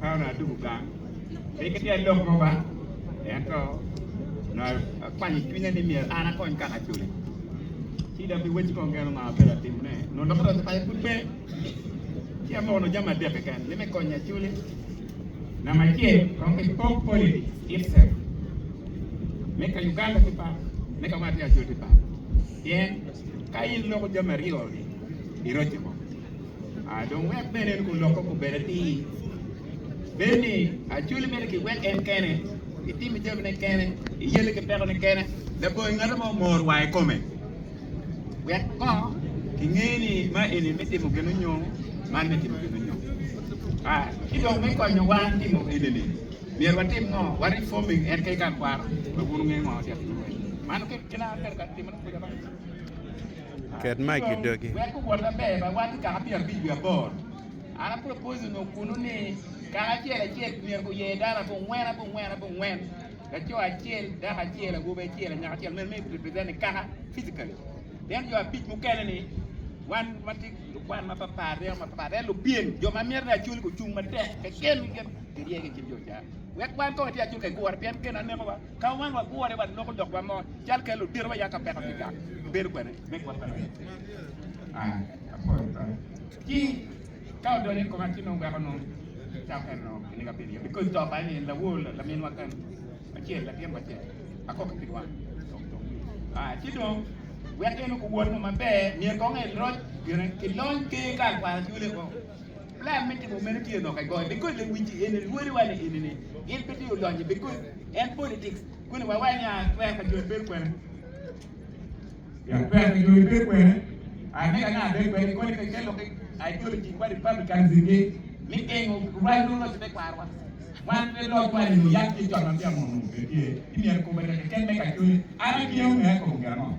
Paulo adugo gang, pe kitye lok mo ba, ento onongo akwanyo i cwinya ni myero an akony kaka acoli. Ci dok ki weci kong kene onongo abedo atimone, onongo dokota me paco pud pe, ci amoko nongo jami adek keken ni me konyo acoli. Namba acel, kong ki pok politi system me ka Uganda ki par, me ka ma atye acol ki par. Pien ka in iloko jami aryo-ni, iroco mo. Dong wek bene en olokke kubed atir, bedo ni acwali mere kiwek en kene, itimo jamine kene, iyelle ki pekone kene, labongo ngate mo mor wa ikome. Wek kong kinge ni ma eni me timo gin onyo man me timo gin onyo. Ki dong me konyo wa timo enini, myero watim ngo? Wa reforming en kayika akwaro, wek wun wunge ngo dek lurwe. Man kena ber ka timone kuca ba. Ket mic i dogi. Wek guwot maber bene, wan kikaka pyera abic wiye aboro. An a propose onongo kunu ni kaka acel acel myero guyer dano abongwen, abongwen, abongwen, laco acel, dako acel, awobi acel, anyaka acel myero me represent ni kaka physically. Then jo abic mukene ni wan matye lukwan mapatpat, ryeko mapatpat, then lupyem jo ma myero ni acul gucung matek keken keken kirye ki i kin jo ca. Wek wan kong ati acul kagure pien gen anekowa. Ka wan wagure, wan loko lok wa mo cal kelo odito wa ya ka peko kica. Bedo kwene me gwoko pi rit. Ai, apoyo kare. Ci, ka odonyo i koma ci nongo weko nongo kica kene nongo kine ka bedo iye. Bi koc to kany in lawor la lamin wa kany acel, latin wa acel. Akok pi wan. Ai, ci dong wek in okuwot nongo maber, myero kong iloc gire ki lony, ker ka akwara cwole o. Plan me timo meno tye lok agoga. Because the wich in lwori wa ni ini ni in pe tye olonye because en politics kuni wa wa nya twer ka joni bedo kwene. Ya twer ka joni bedo kwene. A mega na bedo kwene ni koni ka kel lok ideology wa Republicans ni mi gengo rwal no loc te kwar wa. Wan pe loc wa ni oyak tye cot ma tye amono tye. Ki myero kube reke ken mega chuni. An a gengo me kube ango.